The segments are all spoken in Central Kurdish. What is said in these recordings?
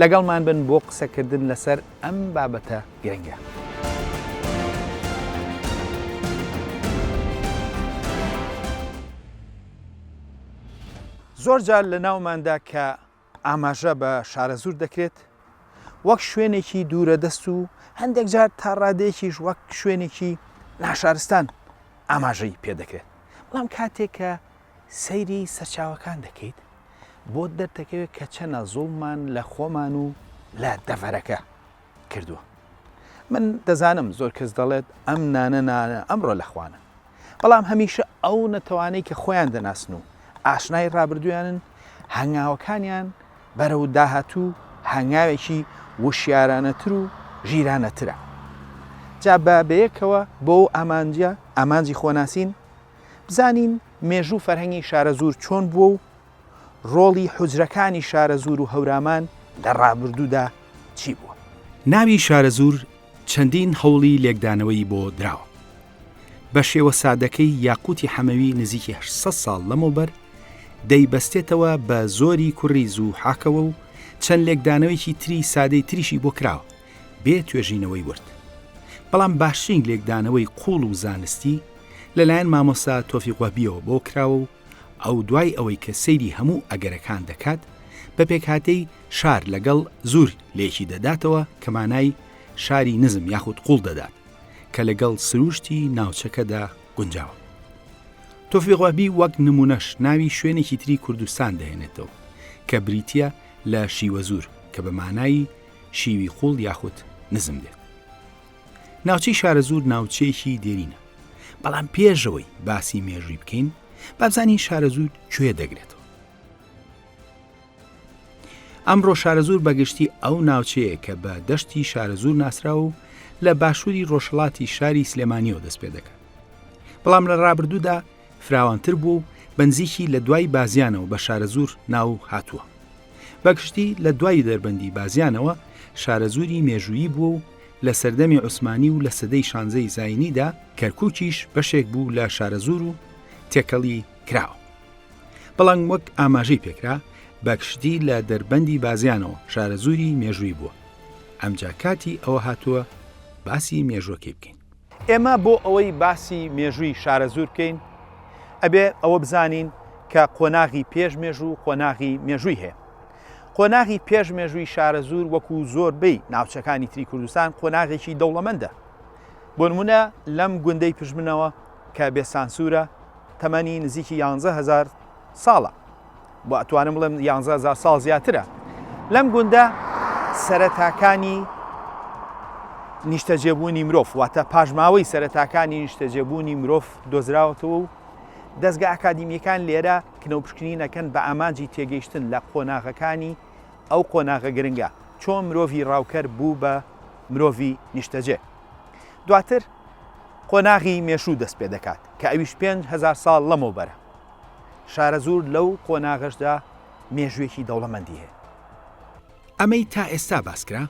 لەگەڵمان بن بۆ قسەکردن لەسەر ئەم بابەتە گرنگە. زۆر جار لە ناوماندا کە ئاماژە بە شارەزوور دەکرێت وەک شوێنێکی دوورە دەست و هەندێک جار تا ڕادەیەکیش وەک شوێنێکی ناشارستان ئاماژەی پێدەکرێت بەڵام کاتێک کە سەیری سەرچاوەکان دەکەیت بۆت دەردەکەوێت کە چەنە زوڵمان لە خۆمان و لە دەڤەرەکە کردووە من دەزانم زۆر کەس دەڵێت ئەم نانە نانە ئەمڕۆ لە خوانە بەڵام هەمیشە ئەو نەتەوانەی کە خۆیان دەناسن و ئاشنای ڕابردویانن هەنگاوەکانیان بەرە و داهاتوو هەنگاوێکی وشیارانەتر و ژیرانەترە جا بە بەیەکەوە بۆ ئامانجە ئامانجی خۆناسین بزانین مێژوو و فەرهەنگی شارەزوور چۆن بووە و ڕۆڵی حوجرەکانی شارەزوور و هەورامان لە ڕابردوودا چی بووە. ناوی شارەزوور چەندین هەوڵی لێکدانەوەی بۆ دراوە. بە شێوە سادەکەی یاقووتی حەمەوی نزیکی هەشت سەد ساڵ لەمەوبەر دەیبەستێتەوە بە زۆری کوڕی زووحاکەوە و چەند لێکدانەوەیەکی تری سادەی تریشی بۆ کراوە. بێ توێژینەوەی ورد. بەڵام باشترین لێکدانەوەی قووڵ و زانستی لەلایەن مامۆستا تۆفیق وەهبییەوە بۆ کراوە و ئەو دوای ئەوەی کە سەیری هەموو ئەگەرەکان دەکات بە پێکهاتەی شار لەگەڵ زور لێکی دەداتەوە کە مانای شاری نزم یاخود قووڵ دەدات کە لەگەڵ سرووشتی ناوچەکەدا گونجاوە. تۆفیق وەهبی وەک نموونەش ناوی شوێنێکی تری کوردستان دەهێنێتەوە کە بریتییە لە شیوەزور کە بە مانای شیوی قوڵ یاخود نزم دێت ناوچەی شارەزور ناوچەیەکی دێرینە بەڵام پێشەوەی باسی مێژووی بکەین بابزانین شارەزور کوێ دەگرێتەوە ئەمڕۆ شارەزور بەگشتی ئەو ناوچەیە کە بە دەشتی شارەزور ناسرا و لە باشووری ڕۆژهڵاتی شاری سلێمانیەوە دەست پێ دەکات بەڵام لە ڕابردوودا فراوانتر بوو و بنزیکی لە دوای بازیانەوە بە شارەزور ناو هاتووە بەگشتی لە دوای دەربەندی بازیانەوە شارەزووری مێژوویی بووە و لە سەردەمی عوسمانی و لە سەدەی شانزەی زینیدا کەرکووکیش بەشێک بوو لە شارەزوور و تێکەڵی کراوە بەڵام وەک ئاماژەی پێکرا بەگشتی لە دەربەندی بازیانەوە شارەزووری مێژووی بووە ئەمجا کاتی ئەوە هاتووە باسی مێژوەکەی بکەین ئێمە بۆ ئەوەی باسی مێژووی شارەزوور بکەین، ئەبێ ئەوە بزانین کە قۆناغی پێش مێژوو و قۆناغی مێژووی هەیە. قۆناغی پێش مێژووی شارەزوور وەکوو زۆربەی ناوچەکانی تری کوردستان قۆناغێکی دەوڵەمەندە. بۆ نموونە لەم گوندەی پژمنەوە کە بێسانسوورە، تەمەنی نزیکی یانزە هەزار ساڵە. بۆ ئەتوانم بڵێم یانزە هزار ساڵ زیاترە لەم گوندە سەرەتاکانی نیشتەجێبوونی مرۆڤ واتە پاشماوەی سەرەتاکانی نیشتەجێبوونی مرۆڤ دۆزراوەتەوە و دەستگە ئاکادمیەکان لێرە کنەوپشکنینەکەن بە ئامانجی تێگەیشتن لە قۆناغەکانی ئەو قۆناغە گرنگە چۆن مرۆڤی ڕاوکەر بوو بە مرۆڤی نیشتەجێ دواتر قۆناغی مێشوو دەست پێ دەکات کە ئەویش 5هزار ساڵ لەمەوبەرە شارەزوور لەو قۆناغەشدا مێژووێکی دەوڵەمەندی هەیە. ئەمەی تا ئێستا باسکرا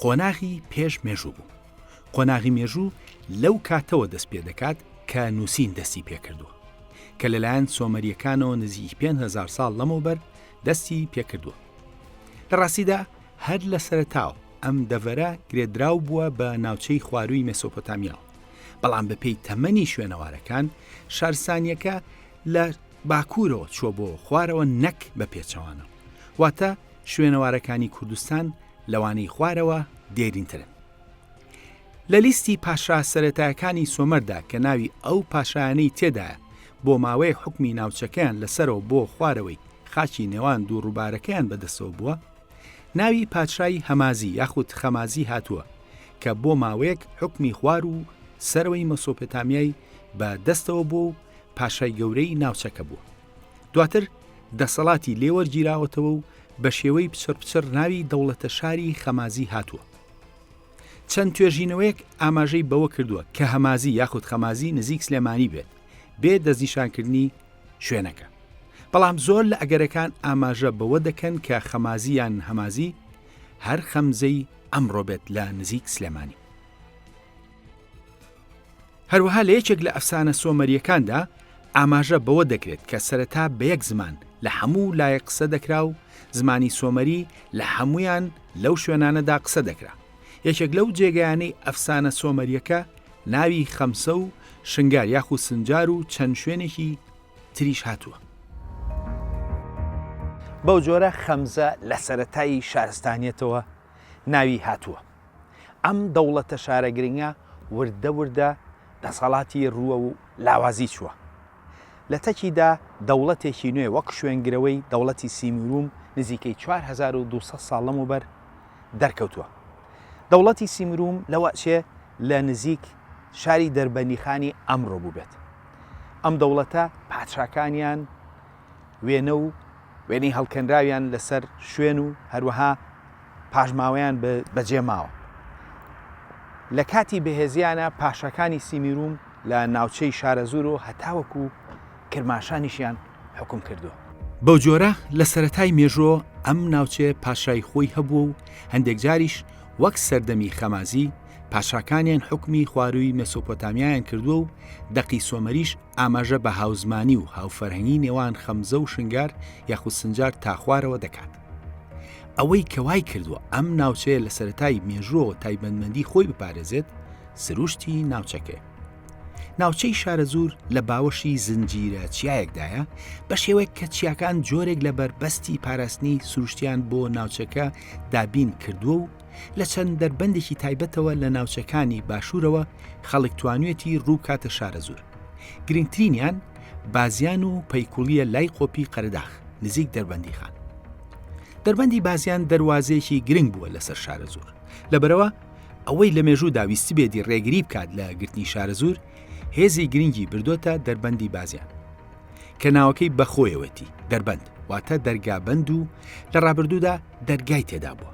قۆناغی پێش مێژوو بوو. قۆناغی مێژوو لەو کاتەوە دەست پێدەکات کە نووسین دەستی پێکردووە، کە لەلایەن سۆمەرییەکانەوە نزیکی پێنج هەزار ساڵ لەمەوبەر دەستی پێکردووە. لە ڕاستیدا هەر لە سەرەتاوە ئەم دەڤەرە گرێدراو بووە بە ناوچەی خوارووی مێسۆپۆتامیاوە. بەڵام بەپێی تەمەنی شوێنەوارەکان شارسانیەکە لە باکوورەوە چوە بۆ خوارەوە نەک بە پێچەوانە واتە شوێنەوارەکانی کوردستان لەوانەی خوارەوە دێرینترن لە لیستی پاشا سەتایەکانی سۆمەردا کە ناوی ئەو پاشایانەی تێدا بۆ ماوەی حکمی ناوچەکەیان لەسەرەوە بۆ خوارەوەی خاچی نێوان دوو ڕووبارەکەیان بەدەسەوە بووە ناوی پادشای هەمازی یاخود خەمازی هاتووە کە بۆ ماوەیەک حوکمی خوار و سەرەوەی مەسۆپێتامیای بە دەستەوە بووە و پاشای گەورەی ناوچەکە بووە دواتر دەسەڵاتی لێوەرگیراوەتەوە و بە شێوەی پچڕ پچڕ ناوی دەوڵەتە شاری خەمازی هاتووە چەند توێژینەوەیەک ئاماژەی بەوە کردووە کە هەمازی یاخود خەمازی نزیک سلێمانی بێت بێ دەستنیشانکردنی شوێنەکە بەڵام زۆر لە ئەگەرەکان ئاماژە بەوە دەکەن کە خەمازی یان هەمازی هەر خەمزەی ئەمڕۆ بێت لە نزیک سلێمانی هەروەها لە یەکێک لە ئەفسانە سۆمەریەکاندا ئاماژە بەوە دەکرێت کە سەرەتا بە یەک زمان لە هەموو لایە قسە دەکرا و زمانی سۆمەری لە هەمویان لەو شوێنانەدا قسە دەکرا یەکێک لەو جێگەیانەی ئەفسانە سۆمەریەکە ناوی خەمسە و شنگال یاخو سنجار و چەند شوێنێکی تریش هاتووە. بەو جۆرە خەمزە لە سەرەتای شارستانیەتەوە ناوی هاتووە. ئەم دەوڵەتە شارە گرنگە وردە وردە دەسەڵاتی رووە و لاوازی چووە. لە تەکیدا دەوڵەتێکی نوێ وەک شوێنگرەوەی دەوڵەتی سیمیروم نزیکەی چوار هەزار و دوو سەد ساڵ لەمەوبەر، دەرکەوتووە دەوڵەتی سیمروم لەوەچێ لە نزیک شاری دەربەنیخانی ئەمڕۆ بووبێت ئەم دەوڵەتە پادشاکانیان وێنە و وێنەی هەڵکەنراویان لەسەر شوێن و هەروەها پاشماوەیان بەجێ ماوە لە کاتی بەهێزیانە پاشەکانی سیمیروم لە ناوچەی شارەزور و هەتاوەکو کرماشانیشیان حکوم کردووە. بەو جۆرە لە سەرەتای مێژۆ ئەم ناوچەیە پاشای خۆی هەبووە و هەندێک جاریش وەک سەردەمی خەمازی پاشاکانیان حکومی خوارووی مێسۆپۆتامیایان کردووە و دەقی سۆمەریش ئاماژە بە هاوزمانی و هاوفەرهەنگی نێوان خەمزە و شنگار یاخود سنجار تا خوارەوە دەکات. ئەوەی کە وای کردووە ئەم ناوچەیە لە سەرەتای مێژووەوە تایبەتمەندی خۆی بپارێزێت سروشتی ناوچەکەیە. ناوچەی شارەزوور لە باوەشی زنجیرە چیایەکدایە بە شێوەیە کە چیاکان جۆرێک لە بەربەستی پاراستنی سروشتیان بۆ ناوچەکە دابین کردووە و لە چەند دەربەندێکی تایبەتەوە لە ناوچەکانی باشوورەوە خەڵک توانوێتی ڕووکاتە شارەزوور گرنگترینیان بازیان و پەیکوڵیە لای قۆپی قەرداخ نزیک دەربەندی خان دەربەندی بازیان دەواازەیەکی گرنگ بووە لەسەر شارە زۆر لەبەرەوە ئەوەی لە مێژوودا ویستبێتی ڕێگری بکات لە گرتنی شارەزوور هێزی گرنگی بردۆتە دەربەندی بازیان کە ناوەکەی بەخۆیەوەتی دەربەند واتە دەرگابند و لە ڕابردوودا دەرگای تێدا بووە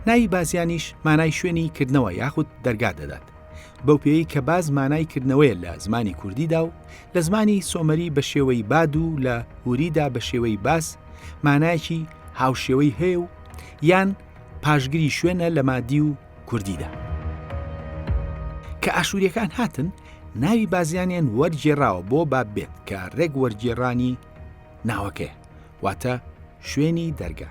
ناوی بازیانیش مانای شوێنی کردنەوە یاخود دەرگا دەدات بەو پێی کە باز مانای کردنەوەیە لە زمانی کوردیدا و لە زمانی سۆمەری بە شێوەی باد و لە هوریدا بە شێوەی باس مانایەکی هاوشێوەی هەیە و یان پاشگری شوێنە لە مادی و کوردیدا. کە ئاشووریەکان هاتن ناوی بازیانیان وەرگێراوە بۆ باب بێت کە ڕێک وەرگێڕانی ناوەکەی واتە شوێنی دەرگا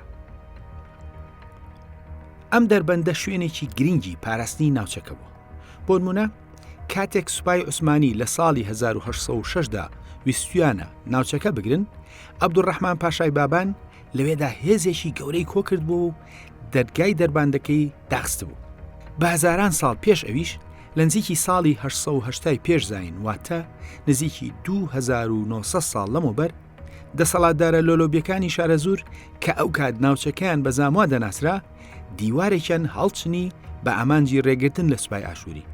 ئەم دەربەندە شوێنێکی گرنگی پاراستنی ناوچەکە بوو بۆ نمونە کاتێک سوپای عوسمانی لە ساڵی 1960دا ویستویانە ناوچەکە بگرن عبدوڕحمان پاشای بابان لەوێدا هێزێکی گەورەی کۆکردبوو و دەرگای دەرباندەکەی داخستبوو بە هزاران ساڵ پێش ئەویش لە نزیکی ساڵی 1970 پێش زین واتە نزیکی 2900 ساڵ لەمەوبەر دەسەڵاتدارە لۆلۆبیەکانی شارەزور کە ئەو کات ناوچەکەیان بە زاموا دەناسرا دیوارێکیان هەڵچنی بە ئامانجی ڕێگرتن لە سوپای ئاشووری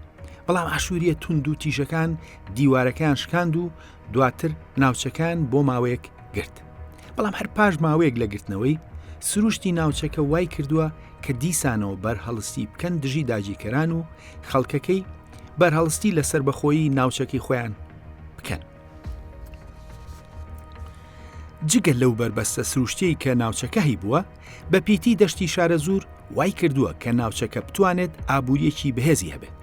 بەڵام ئاشووریە تونند و تیژەکان دیوارەکەیان شکاند و دواتر ناوچەکان بۆ ماوەیەک گرت بەڵام هەر پاش ماوەیەک لە گرتنەوەی سروشتی ناوچەکە وای کردووە کە دیسانەوە بەرهەڵستی بکەن دژی داگیرکەران و خەڵکەکەی بەرهەڵستی لە سربەخۆیی ناوچەکەی خۆیان بکەن جگە لەو بەربەستە سروشتی کە ناوچەکە هی بووە بەپیتی دەشتی شارەزوور وای کردووە کە ناوچەکە بتوانێت ئابوورییەکی بەهێزی هەبێت،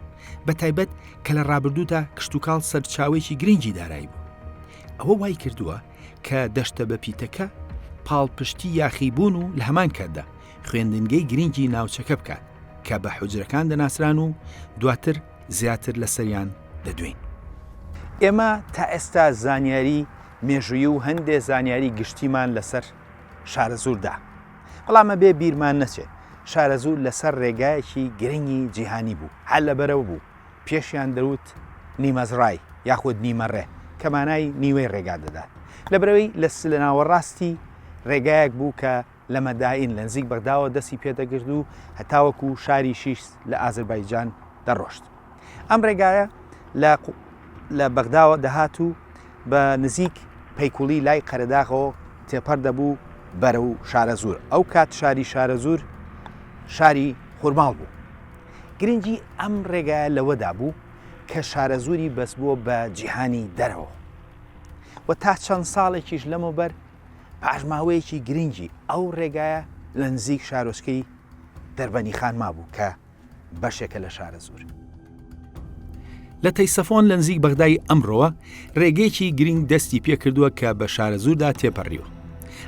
بەتایبەت کە لە ڕابردوودا کشتوکاڵ سەرچاوەیەکی گرنگی دارایی بوو. ئەوە وای کردووە کە دەشتە بەپیتەکە پاڵپشتی یاخیبوون و لە هەمان کاتدا خوێندنگەی گرنگی ناوچەکە بکات کە بە حوجرەکان دەناسران و دواتر زیاتر لەسەریان دەدوێین. ئێمە تا ئێستا زانیاری مێژوویی و هەندێ زانیاری گشتیمان لەسەر شارەزووردا. بەڵام ئەبێ بیرمان نەچێ شارەزوور لەسەر رێگایەکی گرنگی جیهانی بوو، هەر لەبەرەوە بوو پێشیان دەوت نیمەزڕای یاخود نیمەڕێ کە مانای نیوەی رێگا دەدات. لەبەرەوەی لە لەناوەڕاستی رێگایەک بوو کە لە مەدائین لە نزیک بەغداوە دەستی پێ دەگرت و هەتاوەکو شاری شیش لە ئازربایجان دەڕۆشت. ئەم ڕێگایە لە لە بەغداوە دەهات و بە نزیک پەیکوڵی لای قەرەداغەوە تێپەر دەبوو بەرە و شارە زۆر ئەو کات شاری شارە زۆر شاری خورماڵ بوو گرنگی ئەم ڕێگایە لەوەدا بوو کە شارە زوری بەس بووە بە جیهانی دەرەوە و تا چەند ساڵێکیش لەمەوبەر پاشماوەیەکی گرنگی ئەو ڕێگایە لە نزیک شارۆچکەی دەربەنی خانما بوو کە بەشێکە لە شارەزوور. لە تەیسەفۆن لە نزیک بەغدای ئەمڕۆوە ڕێگەیەکی گرنگ دەستی پێکردووە کە بە شارەزووردا تێپەڕیوە.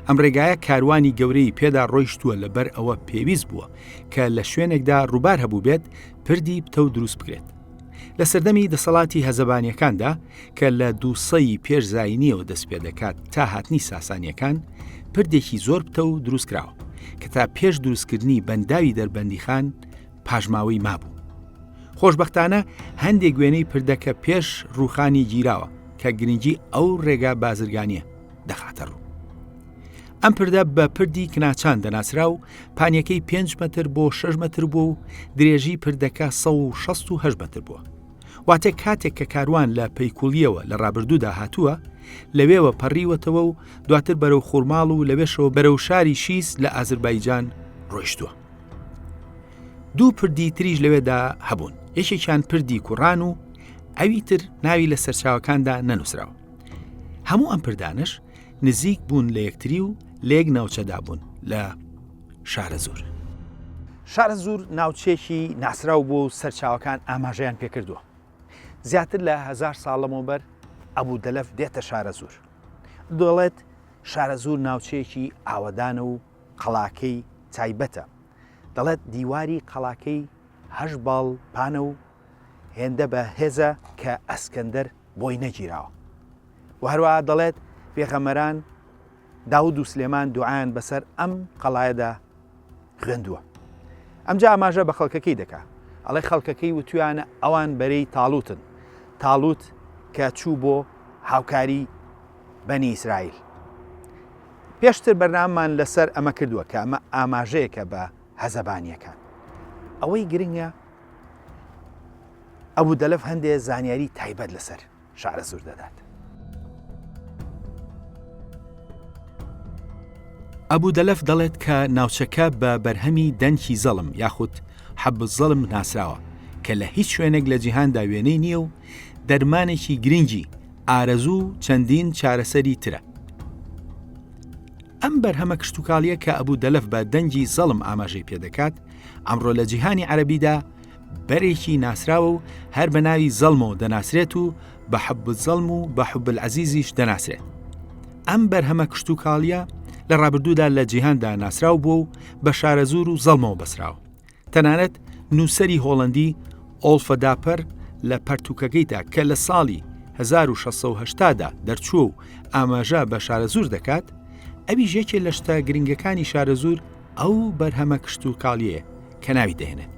ئەم ڕێگایە کاروانی گەورەی پێدا ڕۆیشتووە لەبەر ئەوە پێویست بووە کە لە شوێنێکدا ڕووبار هەبوو بێت پردی پتەو دروست بکرێت. لە سەردەمی دەسەڵاتی هەزەبانیەکاندا کە لە دووسەی پێش زینیەوە دەست پێ دەکات تا هاتنی ساسانیەکان پردێکی زۆر پتە و دروست کراوە کە تا پێش دروستکردنی بەنداوی دەربەندی خان پاژماوەی مابوو. خۆشببختانە هەندێک گوێنەی پردەکە پێش ڕوخانی گیراوە کە گرنگی ئەو ڕێگا بازرگانیە دەخاتە ڕوو. ئەم پردە بە پردی کناچان دەناسرا و پانیەکەی پێنج مەتر بۆ شش مەتر بوو و درێژی پردەکە 16 مەتر بووە. واتە کاتێک کە کاروان لە پەیکوڵیەوە لە ڕابردوودا هاتووە، لەوێوە پەڕیوەتەوە و دواتر بەرەو خورماڵ و لەوێشەوە بەرەو شاری شیس لە ئازربایجان ڕۆیشتووە. دوو پردی تریش لەوێدا هەبوون یەکێکیان پردی کوڕان و ئەوی تر ناوی لە سەرچاوەکاندا نەنووسراوە. هەموو ئەم پردانش نزیک بوون لە یەکتری و لە یەک ناوچەدا بوون لە شارە زور. شارە زور ناوچێکی ناسراو بووە و سەرچاوەکان ئاماژەیان پێکردووە زیاتر لە هزار ساڵ لەمەوبەر ئەبوو دەلەف دێتە شارە زور دەڵێت شارە زور ناوچەیەکی ئاوەدانە و قەڵاکەی تایبەتە دەڵێت دیواری قەڵاکەی هەش باڵ پانە و هێندە بە هێزە کە ئەسکەندەر بۆی نەگیراوە وە هەروەها دەڵێت، پێغەمبەران داود و سلێمان دوعایان بەسەر ئەم قەڵایەدا خوێندووە. ئەمجا ئاماژە بە خەڵکەکەی دەکا. ئەڵێ خەڵکەکەی وتویانە ئەوان بەرەی تاڵوتن. تاڵوت کە چوو بۆ هاوکاری بەنی ئیسرائیل. پێشتر بەرنامەمان لەسەر ئەمە کردووە کە ئەمە ئاماژەیەکە بە هەزەبانیەکان. ئەوەی گرنگە ئەبوو دەلەف هەندێ زانیاری تایبەت لەسەر شارەزوور دەدات. ئەبو دەلەف دەڵێت کە ناوچەکە بە بەرهەمی دەنکی زەڵم یاخود حەبە زەڵم ناسراوە کە لە هیچ شوێنێک لە جیهاندا وێنەی نییە و دەرمانێکی گرنگی ئارەزوو و چەندین چارەسەری ترە ئەم بەرهەمە کشتتوکاڵیە کە ئەبوو دەلف بە دەنگی زەڵم ئاماژەی پێدەکات ئەمڕۆ لە جیهانی عەربیدا بەرێکی ناسراوە و هەر بە ناوی زەڵمەوە دەناسرێت و بە حەب زەڵم و بە حب عزیزیش دەناسرێت ئەم بەرهەمە کشت و کاڵیە لە ڕابردوودا لە جیهاندا ناسراو بووە و بە شارەزور و زەڵمەوە بەسراوە تەنانەت نووسری هۆڵندی ئۆڵفەداپەر لە پەرتوکەکەیدا کە لە ساڵی 1680دا دەرچوو و ئاماژە بە شارەزور دەکات ئەوی ژێکێ لە شتە گرنگەکانی شارەزور ئەو بەرهەمە کشت و کاڵیەیە کە ناوی دەهێنێت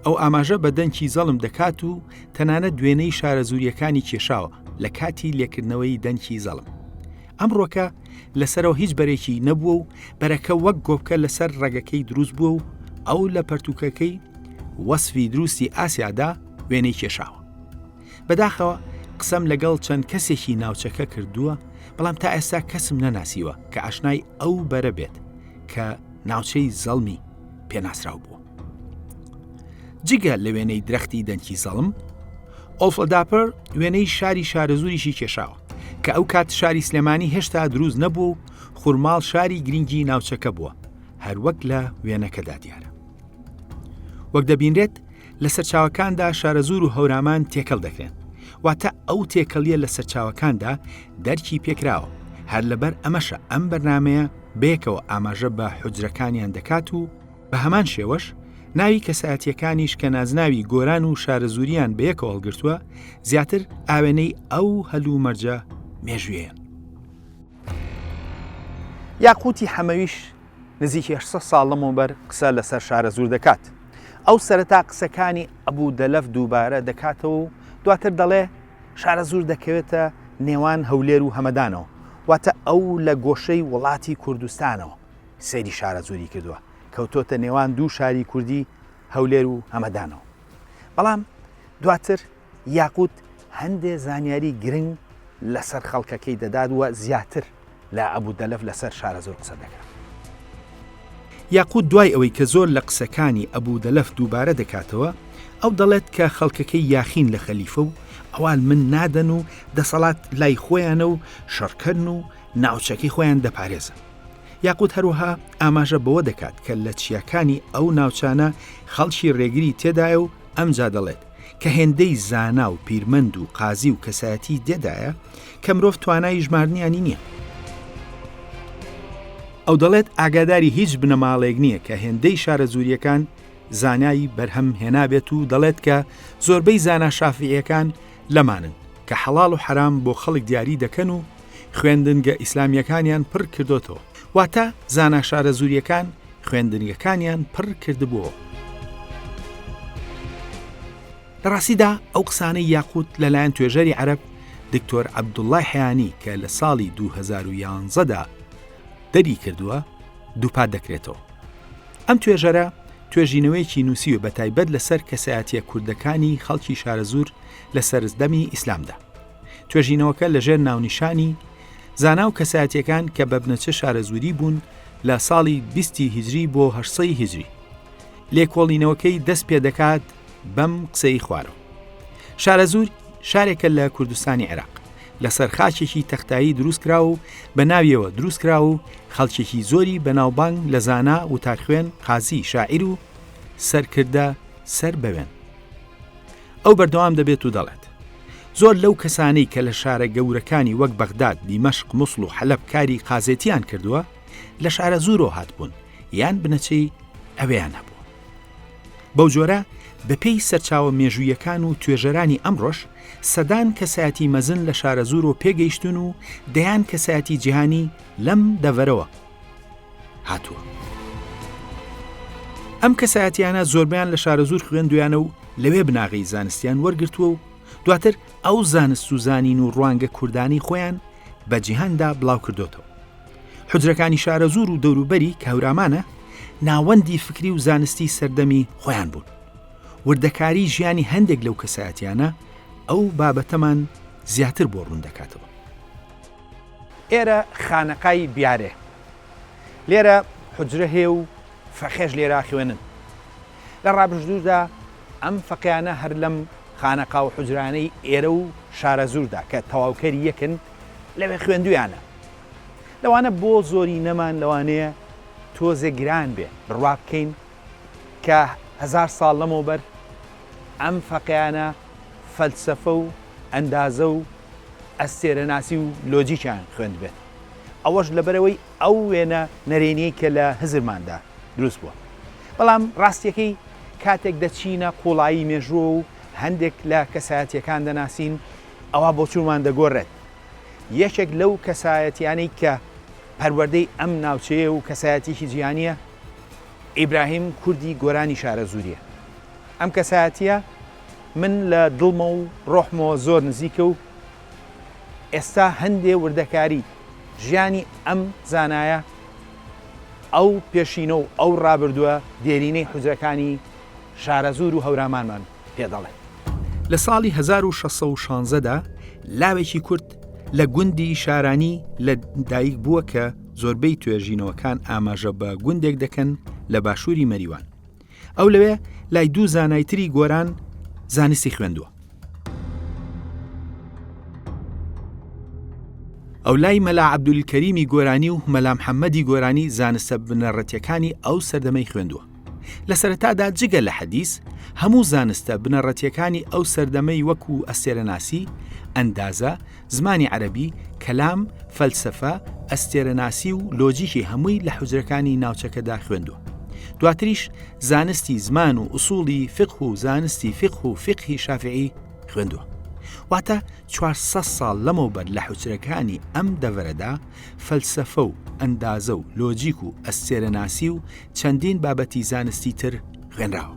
ئەو ئاماژە بە دەنکی زەڵم دەکات و تەنانە دوێنەی شارە زوریەکانی کێشاوە لە کاتی لێکردنەوەی دەنکی زەڵم ئەمڕۆکە لەسەرەوە هیچ بەرێکی نەبووە و بەرەکە وەک گۆپکە لەسەر ڕەگەکەی دروست بووە و ئەو لە پەرتوکەکەی وەسفی دروستی ئاسیادا وێنەی کێشاوە بەداخەوە قسەم لەگەڵ چەند کەسێکی ناوچەکە کردووە بەڵام تا ئێستا کەسم نەناسیوە کە ئاشنای ئەو بەرە بێت کە ناوچەی زەڵمی پێناسراو بووە جگە لە وێنەی درەختی دەنکی زەڵم ئۆفلداپەر وێنەی شاری شارەزوریشی کێشاوە کە ئەو کات شاری سلێمانی هێشتا دروست نەبوو و خورماڵ شاری گرنگی ناوچەکە بووە هەروەک لە وێنەکەدا دیارە وەک دەبینرێت لە سەرچاوەکاندا شارەزوور و هەورامان تێکەڵ دەکرێن واتە ئەو تێکەڵیە لە سەرچاوەکاندا دەرکی پێکراوە هەر لەبەر ئەمەشە ئەم بەرنمەیە بێکەوە ئاماژە بە حجرەکانیان دەکات و بە هەمان شێوەش ناوی کەسایەتیەکانیش کە نازناوی گۆران و شارەزووریان بەیەکەوە هەڵگرتووە زیاتر ئاوێنەی ئەو هەلو مەرجە مێژوێن یاقوتی حەمەویش نزیکی هەشت سەد ساڵ لەمەوبەر قسە لەسەر شارەزوور دەکات. ئەو سەرەتا قسەکانی ئەبوو دەلەف دووبارە دەکاتەوە و دواتر دەڵێ، شارەزوور دەکەوێتە نێوان هەولێر و هەمەدانەوە، واتە ئەو لە گۆشەی وڵاتی کوردستانەوە سەیری شارەزووری کردووە، کەوتۆتە نێوان دوو شاری کوردی هەولێر و هەمەدانەوە. بەڵام دواتر یاقووت هەندێ زانیاری گرنگ لەسەر خەڵکەکەی دەدات و زیاتر لە ئەبو دەلەف لەسەر شارەزوور قسە دەکات. یاقووت دوای ئەوەی کە زۆر لە قسەکانی ئەبو دەلەف دووبارە دەکاتەوە، ئەو دەڵێت کە خەڵکەکەی یاخین لە خەلیفە و ئەوان من نادەن و دەسەڵات لای خۆیانە و شەڕکەرن و ناوچەکەی خۆیان دەپارێزن. یاقووت هەروەها ئاماژە بەوە دەکات کە لە چیاکانی ئەو ناوچانە خەڵکی رێگری تێدایە و ئەمجا دەڵێت، کە هێندەی زانا و پیرمەند و قازی و کەسایەتیی دێدایە، کە مرۆڤ توانای ژماردنیانی نییە. ئەو دەڵێت، ئاگاداری هیچ بنەماڵەیەک نییە کە هێندەی شارەزوورییەکان زانای بەرهەم هێنابێت و دەڵێت کە زۆربەی زانا شافیعییەکان لەمانن، کە حەڵاڵ و حەرام بۆ خەڵک دیاری دەکەن و، خوێندنگە ئیسلامیەکانیان پڕ کردۆتەوە واتە زانا شارەزوریەکان خوێندنگەکانیان پڕ کردبووەوە. لە ڕاستیدا ئەو قسانەی یاقوت لەلایەن توێژەری عەرب دکتۆر عەبدوڵای حیانی کە لە ساڵی 2011دا دەری کردووە دووپات دەکرێتەوە ئەم توێژەرە توێژینەوەیەکی نووسیوە بە تایبەت لەسەر کەسایەتە کوردەکانی خەڵکی شارەزور لە سەرزدەمی ئیسلامدا توێژینەوەکە لەژێر ناونیشانی زانا و کەسایەتەکان کە بە بنەچە شارەزووری بوون لە ساڵی 20 هجری بۆ هەشسەی هجری لێکۆڵینەوەکەی دەست پێ دەکات بەم قسەی خوارەوە شارەزوور شارێکە لە کوردستانی عێراق لەسەر خاچێکی تەختایی دروستکرا و بە ناویەوە دروستکرا و خەڵکێکی زۆری بەناوبانگ لە زانا و تاخوێن قازی شاعیر و سەرکردە سەر بەوێن ئەو بەردەوام دەبێت و دەڵێت، زۆر لەو کەسانەی کە لە شارە گەورەکانی وەک بەغداد، دیمەشق، موسڵ و حەلەب کاری قازێتییان کردووە، لە شارەزوورەوە هاتبوون یان بنەچەی ئەوێیان هەبووە. بەو جۆرە بەپێی سەرچاوە مێژوویەکان و توێژەرانی ئەمڕۆش، سەدان کەسایەتی مەزن لە شارەزوورەوە پێگەیشتوون و دەیان کەسایەتی جیهانی لەم دەڤەرەوە، هاتووە. ئەم کەسایەتیانە زۆربیان لە شارەزوور خوێندویانە و لەوێ بناغی زانستیان وەرگتووە و دواتر ئەو زانست و زانین و ڕوانگە کوردانی خۆیان بە جیهاندا بڵاو کردوتەوە. حجرەکانی شارەزوور و دەوروبەری کەورامانە ناوەندی فکری و زانستی سەردەمی خۆیان بوون. وردەکاری ژیانی هەندێک لەو کەسایەتیانە ئەو بابەتەمان زیاتر بۆ ڕوون دەکاتەوە. ئێرە خانەقای بیارێ لێرە حوجرە هەیە و فەقێش لێرە خوێنن. لە ڕابردوودا ئەم فەقێیانە هەر لەم خانەقا و حوجرانەی ئێرە و شارەزووردا کە تەواوکەری یەکن لەوێ خوێندوویانە. لەوانە بۆ زۆرینەمان لەوانەیە تۆزێ گران بێ بڕوا بکەین کە هەزار ساڵ لەمەوبەر ئەم فەقێیانە فەلسەفە و ئەندازە و ئەستێرەناسی و لۆجیکیان خوێندبێت، ئەوەش لەبەرئەوەی ئەو وێنە نەرێنیەی کە لە هزرماندا دروست بووە. بەڵام ڕاستیەکەی کاتێک دەچینە قوڵایی مێژووەوە و هەندێک لە کەسایەتیەکان دەناسین ئەوا بۆچوونمان دەگۆڕێت. یەکێک لەو کەسایەتیانەی کە پەروەردەی ئەم ناوچەیە و کەسایەتیەکی جیهانیە ئیبراهیم کوردی گۆرانی شارەزووریە. ئەم کەسایەتیە من لە دڵمە و ڕۆحمەوە زۆر نزیکە و ئێستا هەندێ وردەکاری ژیانی ئەم زانایە ئەو پێشینە و ئەو ڕابردووە دێرینەی حوجرەکانی شارەزوور و هەورامانمان پێ دەڵێ. لە ساڵی هەزار و شەش سەد و شانزە دا لاوێکی کورد لە گوندی شارانی لە دایک بووە کە زۆربەی توێژینەوەکان ئاماژە بە گوندێک دەکەن لە باشووری مەریوان، ئەو لەوێ لای دوو زانای تری گۆران زانستی خوێندووە ئەو لای مەلا عبدولکەریمی گۆرانی و مەلام حەممەدی گۆرانی زانستە بنەڕەتیەکانی ئەو سەردەمەی خوێندووە لە سەرەتادا جگە لە حەدیس هەموو زانستە بنەڕەتیەکانی ئەو سەردەمەی وەکو ئەسێرەناسی ئەندازە زمانی عەرەبی، کەلام، فەلسەفە، ئەستێرەناسی و لۆجیکی هەمووی لە حوجرەکانی ناوچەکەدا خوێندووە. دواتریش زانستی زمان و ئوسوڵی فقه و زانستی فقه و فقهی شافعی خوێندووە. واتە 400 ساڵ لەمەوبەر لە حوچرەکانی ئەم دەڤەرەدا فەلسەفە و ئەندازە و لۆجیک و ئەستێرەناسی و چەندین بابەتی زانستی تر غێنراوە.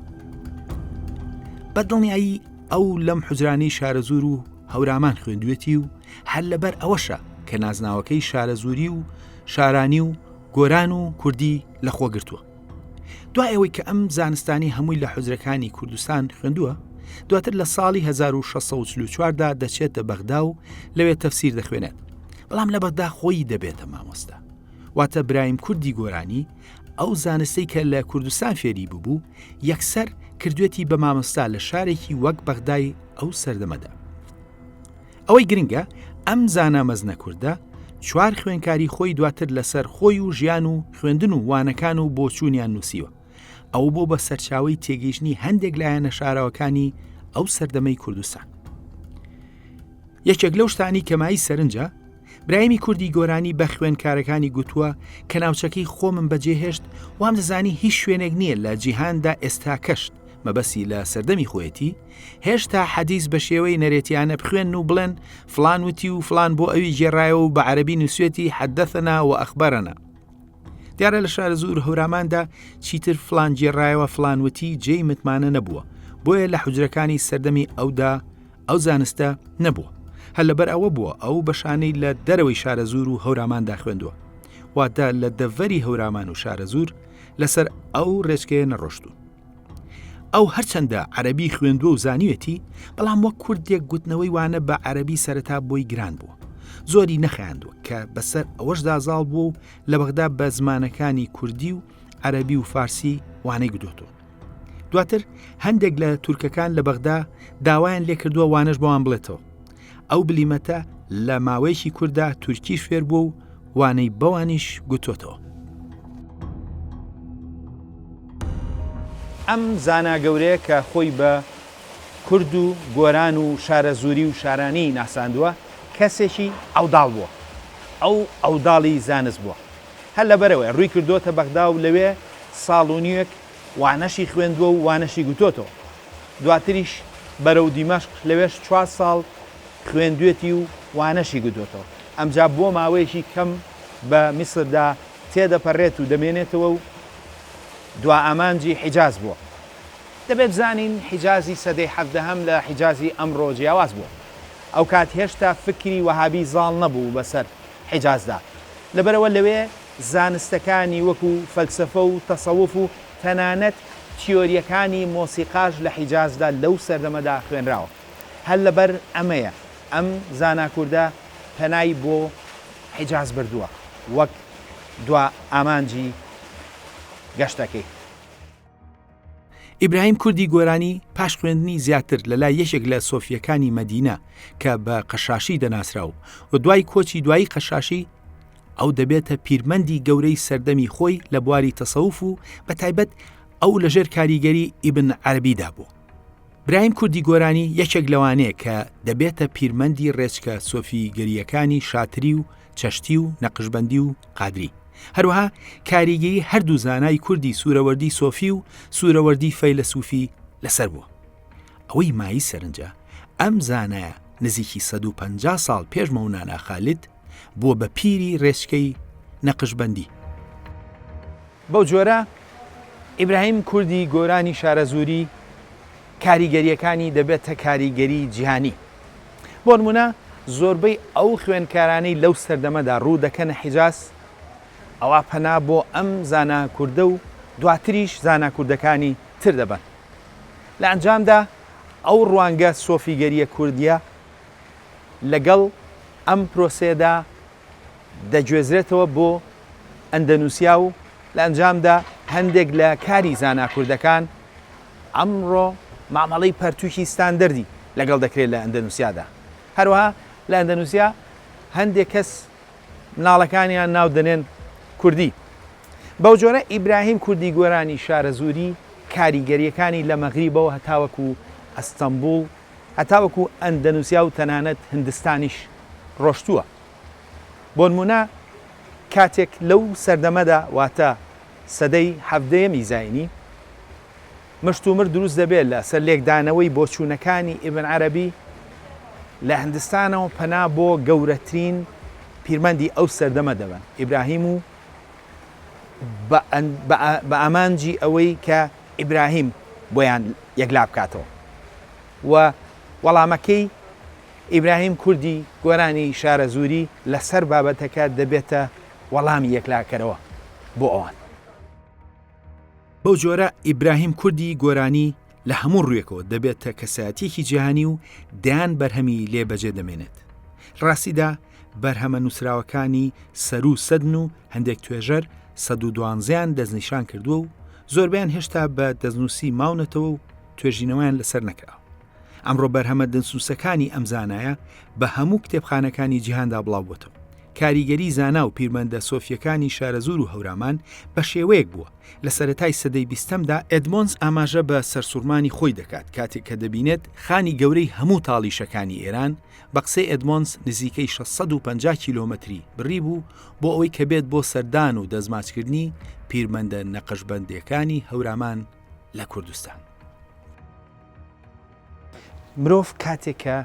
بەدڵنیایی ئەو لەم حجرانی شارەزور و هەورامان خوێندوێتی و هەر لەبەر ئەوەشە کە نازناوەکەی شارەزووری و شارانی و گۆران و کوردی لە خۆ گرتووە دوای ئەوەی کە ئەم زانستانی هەمووی لە حجرەکانی کوردستان خوێندووە دواتر لە ساڵی 1644دا دەچێتە بەغدا و لەوێ تەفسیر دەخوێنێت بەڵام لە بەغدا خۆی دەبێتە مامۆستا واتە برایم کوردی گۆرانی ئەو زانستەی کە لە کوردستان فێری ببوو یەکسەر کردوێتی بە مامۆستا لە شارێکی وەک بەغدای ئەو سەردەمەدا ئەوەی گرنگە ئەم زانا مەزنە کوردە چوار خوێنکاری خۆی دواتر لەسەر خۆی و ژیان و خوێندن و وانەکان و بۆچوونیان نووسیوە ئەو بۆ بە سەرچاوی تێگەیشتنی هەندێک لایەنە شاراوەکانی ئەو سەردەمەی کوردستان یەکێک لەو شتانی کەمایی سەرنجە برایمی کوردی گۆرانی بە خوێنکارەکانی گوتووە کە ناوچەکەی خۆمم بەجێهێشت وام دەزانی هیچ شوێنێک نییە لە جیهاندا ئێستا کەشت مەبەسی لە سەردەمی خۆیەتی هێشتا حەدیس بە شێوەی نەرێتیانە بخوێن و بڵێن فلان وتی و فلان بۆ ئەوی گێڕایەوە و بە عەربی نووسێتی حەدەثەنا و ئەخبەرەنا دیارە لە شار زور هەوراماندا چیتر فلان گێڕایەوە فلان وتی جێی متمانە نەبووە بۆیە لە حجرەکانی سەردەمی ئەودا ئەو زانستە نەبووە هەر لەبەر ئەوە بووە ئەو بەشانەی لە دەرەوەی شارە زور و هەوراماندا خوێندووە واتە لە دەڤەری هەورامان و شارە زور لەسەر ئەو ڕێچکەیە نەڕۆشتون ئەو هەرچەندە عەربی خوێندوە و زانیوێتی بەڵام وەک کوردێک گوتنەوەی وانە بە عەربی سەرەتا بۆی گران بووە زۆری نەخیاندووە کە بەسەر ئەوەشدا زاڵ بوو و لە بەغدا بە زمانەکانی کوردی و عەربی و فارسی وانەی گدۆتەوە دواتر هەندێک لە تورکەکان لە بەغدا داوایان لێکردووە وانەش بۆوان بڵێتەوە ئەو بلیمەتە لە ماوەیەکی کوردا تورکی فێر بوو و وانەی بەوانیش گوتۆتەوە. ئەم زانا گەورەیە کە خۆی بە کورد و گۆران و شارەزووری و شارانی ناساندووە، کەسێکی عەوداڵ بووە. ئەو عەوداڵی زانست بووە. هەر لەبەرئەوەیە ڕووی کردۆتە بەغدا و لەوێ ساڵ و نیوێک وانەشی خوێندووە و وانەشی گوتۆتەوە. دواتریش بەرەو دیمەشق، لەوێش چوار ساڵ خوێندوێتی و وانەشی گوتۆتەوە. ئەمجا بۆ ماوەیەکی کەم بە میسردا تێدەپەرێت و دەمێنێتەوە و دوائامانجی حیجاز بووە. دەبێ بزانین حیجازی سەدەی حەڤدەهەم لە حیجازی ئەمڕۆ جیاواز بووە. ئەوکات هێشتا فکری وەهابی زاڵ نەبوو بەسەر حیجازدا. لەبەرئەوە لەوێ. زانستەکانی وەکو فەلسەفە و تەسەوف و تەنانەت تیۆرییەکانی مۆسیقاش لە حیجازدا لەو سەردەمەدا خوێنراوە. هەر لەبەر ئەمەیە ئەم زانا کوردە پەنای بۆ حیجاز بردووە وەک دوا ئامانجی گەشتەکەی. ئیبراهیم کوردی گۆرانی پاش خوێندنی زیاتر لە لای یەکێک لە سۆفیەکانی مەدینە کە بە قەشاشی دەناسرا و و دوای کۆچی دوایی قەشاشی ئەو دەبێتە پیرمەندی گەورەی سەردەمی خۆی لە بواری تەسەوف و بە تایبەت ئەو لەژێر کاریگەری ئیبن عەربیدا بوو. برایم کوردی گۆرانی یەکێک لەوانەیە کە دەبێتە پیرمەندی ڕێچکە سۆفی گەریەکانی شاتری و چشتی و نەقشبەندی و قادری، هەروەها کاریگەی هەردوو زانای کوردی سورەوەردی سۆفی و سورەوەردی فەیلەسوفی لەسەر بووە. ئەوەی مایەی سەرنجە ئەم زانایە نزیکی سەد و پەنجا ساڵ پێش مەونانا خالید بووە بە پیری رێچکەی نەقشبەندی. بەو جۆرە ئیبراهیم کوردی گۆرانی شارەزووری کاریگەرییەکانی دەبێتە کاریگەری جیهانی. بۆ نموونە زۆربەی ئەو خوێندکارانەی لەو سەردەمەدا ڕوو دەکەنە حیجاز، ئەوا پەنا بۆ ئەم زانا کوردە و دواتریش زانا کوردەکانی تر دەبەن. لە ئەنجامدا ئەو ڕوانگە سۆفیگەرییە کوردییە لەگەڵ ئەم پرۆسەیەدا دەگوێزرێتەوە بۆ ئەندەنوسیا و لە ئەنجامدا هەندێک لە کاری زانا کوردەکان ئەمڕۆ مامەڵەی پەرتووکی ستاندەردی لەگەڵ دەکرێت لە ئەندەنوسیادا هەروەها لە ئەندەنوسیا هەندێک کەس مناڵەکانیان ناو دەنێن کوردی بەو جۆرە ئیبراهیم کوردی گۆرانی شارەزووری کاریگەریەکانی لە مەغریبەوە هەتاوەکو ئەستەمبول هەتاوەکو ئەندەنوسیا و تەنانەت هندستانیش ڕۆشتووە. بۆنموونە کاتێک لەو سەردەمەدا واتە سەدەی حەڤدەیەمی زاینی مشتومر دروست دەبێت لە سەر لێکدانەوەی بۆچوونەکانی ئیبن عەرەبی لە هندستانەوە پەنا بۆ گەورەترین پیرمەندی ئەو سەردەمە دەبەن ئیبراهیم و بە بە ئامانجی ئەوەی کە ئیبراهیم بۆیان یەکلابکاتەوە و وەڵامەکەی ئیبراهیم کوردی گۆرانی شارەزووری لەسەر بابەتەکە دەبێتە وەڵامی یەکلاکەرەوە بۆ ئەوان. بەو جۆرە ئیبراهیم کوردی گۆرانی لە هەموو ڕوویەکەوە دەبێتە کەسایەتیەکی جیهانی و دەیان بەرهەمی لێ بەجێ دەمێنێت. لە ڕاستیدا بەرهەمە نووسراوەکانی سەرو سەدن و هەندێک توێژەر سەد و دوانزیان دەستنیشان کردووە و زۆربیان هێشتا بە دەستنووسی ماونەتەوە و توێژینەوەیان لەسەر نەکرا. ئەمڕۆ بەرهەمە دەنسووسەکانی ئەم زانایە بە هەموو کتێبخانەکانی جیهاندا بڵاو بۆتەوە. کاریگەری زانا و پیرمەندە سۆفیەکانی شارەزوور و هەورامان بە شێوەیەک بووە لە سەرەتای سەدەی بیستەمدا ئێدمۆنس ئاماژە بە سەرسوڕمانی خۆی دەکات کاتێک کە دەبینێت خانی گەورەی هەموو تاڵیشەکانی ئێران بە قسەی ئێدمۆنس نزیکەی شەش سەد و پەنجا کیلۆمەتری بڕیبوو بۆ ئەوەی کە بێت بۆ سەردان و دەستماچکردنی پیرمەندە نەقشبەندێکانی هەورامان لە کوردستان. مرۆڤ کاتێک کە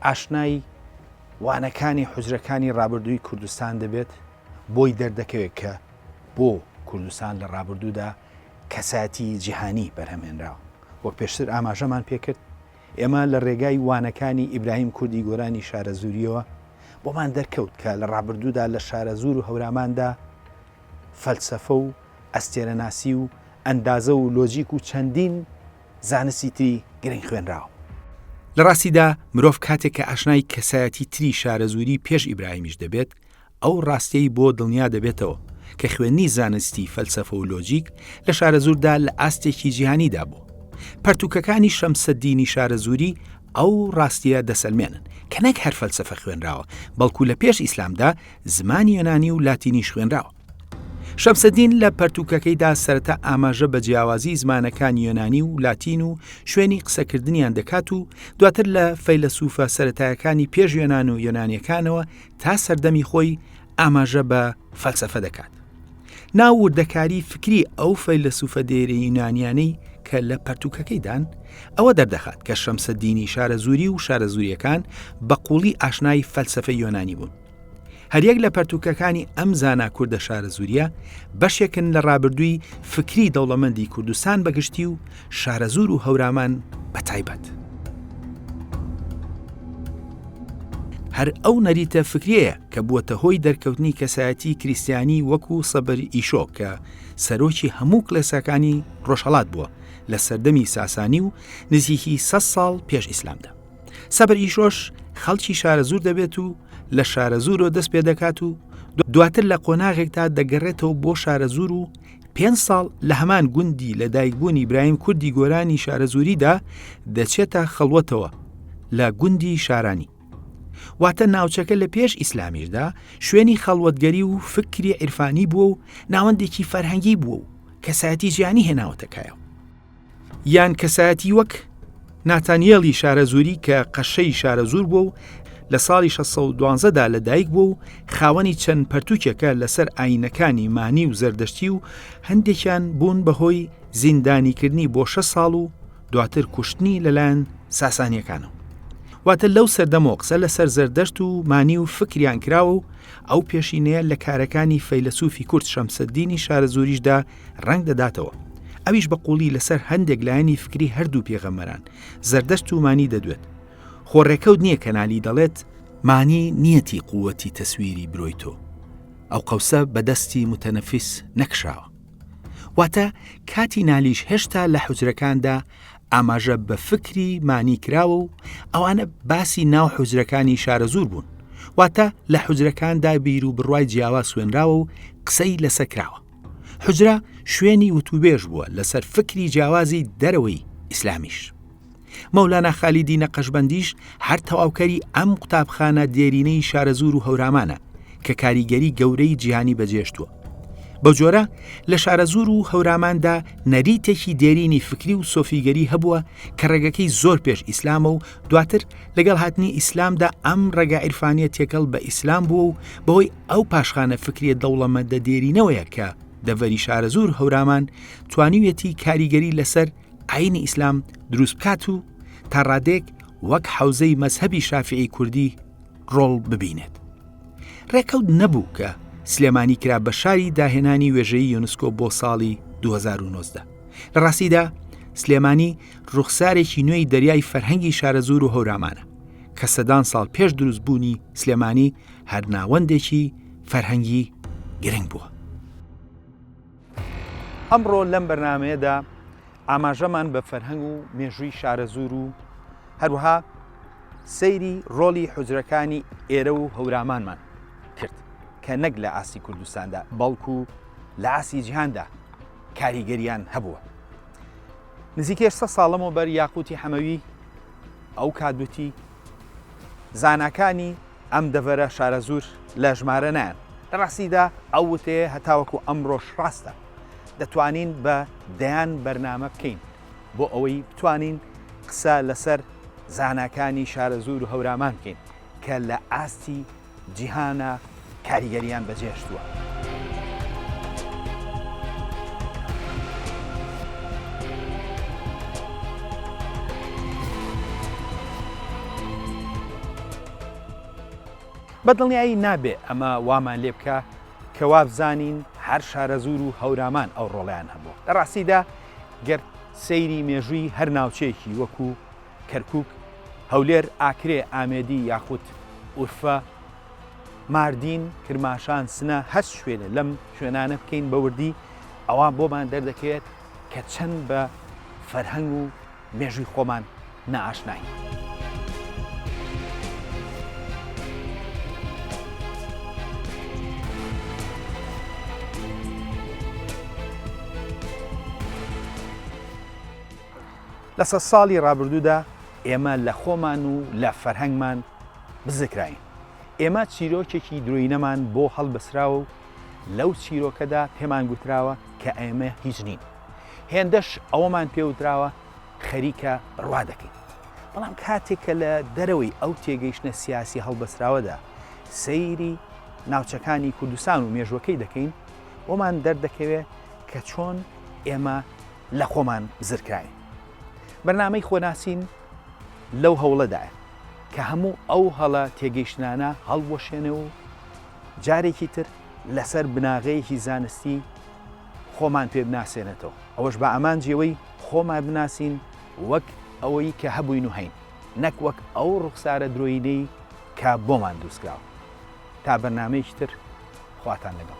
ئاشنای وانەکانی حوجرەکانی ڕابردووی کوردستان دەبێت بۆی دەردەکەوێت کە بۆ کوردستان لە ڕابردوودا کەسایەتی جیهانی بەرهەمهێنراوە وەک پێشتر ئاماژەمان پێکرد ئێمە لە ڕێگای وانەکانی ئیبراهیم کوردی گۆرانی شارەزوورییەوە بۆمان دەرکەوت کە لە ڕابردوودا لە شارەزوور و هەوراماندا فەلسەفە و ئەستێرەناسی و ئەندازە و لۆجیک و چەندین زانستی تری گرنگ خوێنراوە. لە ڕاستیدا مرۆڤ کاتێک کە ئاشنای کەسایەتی تری شارەزووری پێش ئیبراهیمیش دەبێت، ئەو ڕاستیەی بۆ دڵنیا دەبێتەوە کە خوێندنی زانستی فەلسەفە و لۆجیک لە شارەزووردا لە ئاستێکی جیهانیدا بوو پەرتوکەکانی شەمسەدینی شارەزووری ئەو ڕاستیە دەسەلمێنن کە نەک هەر فەلسەفە خوێنراوە بەڵکو لە پێش ئیسلامدا زمانی یۆنانی و لاتینیش خوێنراوە شەمسەدین لە پەرتوکەکەیدا سەرەتا ئاماژە بە جیاوازی زمانەکان یۆنانی و لاتین و شوێنی قسەکردنیان دەکات و دواتر لە فەیلەسوفە سەتایەکانی پێش یۆنان و یۆنانیەکانەوە تا سەردەمی خۆی ئاماژە بە فەلسەفە دەکات ناو وردەکاری فکری ئەو فەیلسوفە دێرە یونانیانەی کە لە پەرتوکەکەیدان ئەوە دەردەخات کە شەمسە دینی شارە زوری و شارە زوریەکان بە قوڵی ئاشنای فەلسفە یۆنانی بوون هەریەک لە پەرتوکەکانی ئەم زانا کووردە شارە زوریە بەشێکن لە ڕابردووی فکری دەوڵەمەندی کوردستان بەگشتی و شارەزوور و هەورامان بە تایبەت. هەر ئەو نەریتە فکرەیە کە بووەتە هۆی دەرکەوتنی کەسایەتی کریسیانی وەکو سەبر ئیشۆ کە سەرۆکی هەموو کلێساکانی ڕۆژهڵات بووە لە سەردەمی ساسانی و نزیکی سە ساڵ پێش ئیسلامدا سەبر ئیشۆش خەڵکی شارە زور دەبێت و لە شارە زورۆ دەست پێ دەکات و دواتر لە قۆناغێکدا دەگەڕێتەوە بۆ شارە زور و پێنج ساڵ لە هەمان گوندی لە دایکبوونی برایم کوردی گۆرانی شارەزووریدا دەچێتە خەڵوەتەوە لە گوندی شارانی واتە ناوچەکە لە پێش ئیسلامیشدا شوێنی خەڵوەتگەری و فکری عیرفانی بووە و ناوەندێکی فەرهەنگی بووە و کەسایەتی جیانی هێناوەتەکایەوە یان کەسایەتی وەک ناتانیێڵی شارەزووری کە قەشەی شارەزوور بووە و لە ساڵی 1612 دا لە دایک بووە و خاوەنی چەند پەرتوکێکە لەسەر ئاینەکانی مانی و زەردەشتی و هەندێکیان بوون بەهۆی زیندانیکردنی بۆ شە ساڵ و دواتر کوشتنی لەلایەن ساسانیەکانەوە واتە لەو سەردەمەوە قسە لەسەر زەردەشت و مانی و فکریان کراوە و ئەو پێشینەیە لە کارەکانی فەیلەسوفی کورد شەمسەدینی شارەزووریشدا ڕەنگ دەداتەوە ئەویش بە قوڵی لەسەر هەندێک لایەنی فکری هەردوو پێغەمەران زەردەشت و مانی دەدوێت خۆ ڕێکەوت نییە کەنالی دەڵێت مانی نیەتی قووەتی تەسویری برۆی تۆ ئەو قەوسە بەدەستی متەنەفیس نەکشاوە واتە کاتی نالیش هێشتا لە حوجرەکاندا ئاماژە بە فکری مانی کراوە و ئەوانە باسی ناو حوجرەکانی شارەزور بوون واتە لە حوجرەکاندا بیر و بڕوای جیاوا سوێنراوە و قسەی لەسەکراوە حوجرە شوێنی وتوبێژ بووە لەسەر فکری جیاوازی دەرەوەی ئیسلامیش. مەولانا خالیدی نەقەشبەندیش هەر تەواوکەری ئەم قوتابخانە دێرینەی شارەزوور و هەورامانە کە کاریگەری گەورەی جیهانی بەجێشتووە. بە جۆرە لە شارەزوور و هەوراماندا نەریتێکی دێرینی فکری و سۆفیگەری هەبووە کە ڕێگەکەی زۆر پێش ئیسلامە و دواتر لەگەڵ هاتنی ئیسلامدا ئەم ڕێگا عیرفانیە تێکەڵ بە ئیسلام بووە و بەهۆی ئەو پاشخانە فکریە دەوڵەمەدە دێرینەوەیە کە دەڤەری شارەزور هەورامان توانیویەتی کاریگەری لەسەر ئاینی ئیسلام دروست بکات و تا ڕادێک وەک حوزەی مەذهبی شافعی کوردی ڕۆڵ ببینێت ڕێکەوت نەبوو کە سلێمانی کرا بە شاری داهێنانی وێژەی یۆنسکۆ بۆ ساڵی 2009 لە ڕاستیدا سلێمانی ڕوخسارێکی نوێی دەریای فەرهەنگی شارەزور و هەورامانە کە سەدان ساڵ پێش دروست بوونی سلێمانی هەرناوەندێکی فەرهەنگی گرنگ بووە. ئەمڕۆ لەم بەرنمەیەدا ئاماژەمان بە فەرهەنگ و مێژووی شارەزور و هەروها سەیری ڕۆلی حجرەکانی ئێرە و هەورامانمان کرد کە نەک لە ئاسی کوردستاندا بەڵکو لە ئاسی جیهاندا کاریگەریان هەبووە. نزیکەی هەشت سەد ساڵ لەمەوبەر یاقووتی حەمەوی ئەو کات وتی، زاناکانی ئەم دەڤەرە شارەزوور لە ژمارە نایەن. لە ڕاستیدا ئەو وتەیە هەتاوەکو ئەمڕۆش ڕاستە. دەتوانین بە دەیان بەرنامە بکەین بۆ ئەوەی بتوانین قسە لەسەر زاناکانی شارەزوور و هەورامان بکەین کە لە ئاستی جیهانە کاریگەریان بەجێهشتووە. بە دڵنیایی نابێ ئەمە وامان لێ بکا کە وابزانین هەر شارەزوور و هەورامان ئەو ڕۆڵەیان هەبووە. لە ڕاستیدا گەر سەیری مێژووی هەر ناوچەیەکی وەکوو، کەرکوک، هەولێر، ئاکرێ، ئامێدی یاخود ئورفە، ماردین، کرماشان، سنە هەر شوێنێ لەم شوێنانە بکەین بە وردی ئەوا بۆمان دەردەکەوێت کە چەند بە فەرهەنگ و مێژووی خۆمان نائاشناین. لە سەد ساڵی ڕابردوودا ئێمە لە خۆمان و لە فەرهەنگمان بزرکراین. ئێمە چیرۆکێکی درۆینەمان بۆ هەڵبەسراوە و لەو چیرۆکەدا پێمان گوتراوە کە ئێمە هیچ نین. هێندەش ئەوەمان پێوتراوە خەریکە بڕوا دەکەین. بەڵام کاتێک کە لە دەرەوەی ئەو تێگەیشتنە سیاسی هەڵبەسراوەدا سەیری ناوچەکانی کوردستان و مێژوەکەی دەکەین، بۆمان دەردەکەوێت کە چۆن ئێمە لە خۆمان زرکراین. بەرنامەی خۆناسین لەو هەوڵەدایە کە هەموو ئەو هەڵە تێگەیشتنانە هەڵوەشێنێ و جارێکی تر لەسەر بناغەیەکی زانستی خۆمان پێ بناسێنێتەوە، ئەوەش بە ئامانجی ئەوەی خۆمان بناسین وەک ئەوەی کە هەبووین و هەین، نەک وەک ئەو ڕوخسارە درۆیینەی کە بۆمان دروستکراوە. تا بەرنامەیەکی تر. خواتان لەگەڵ.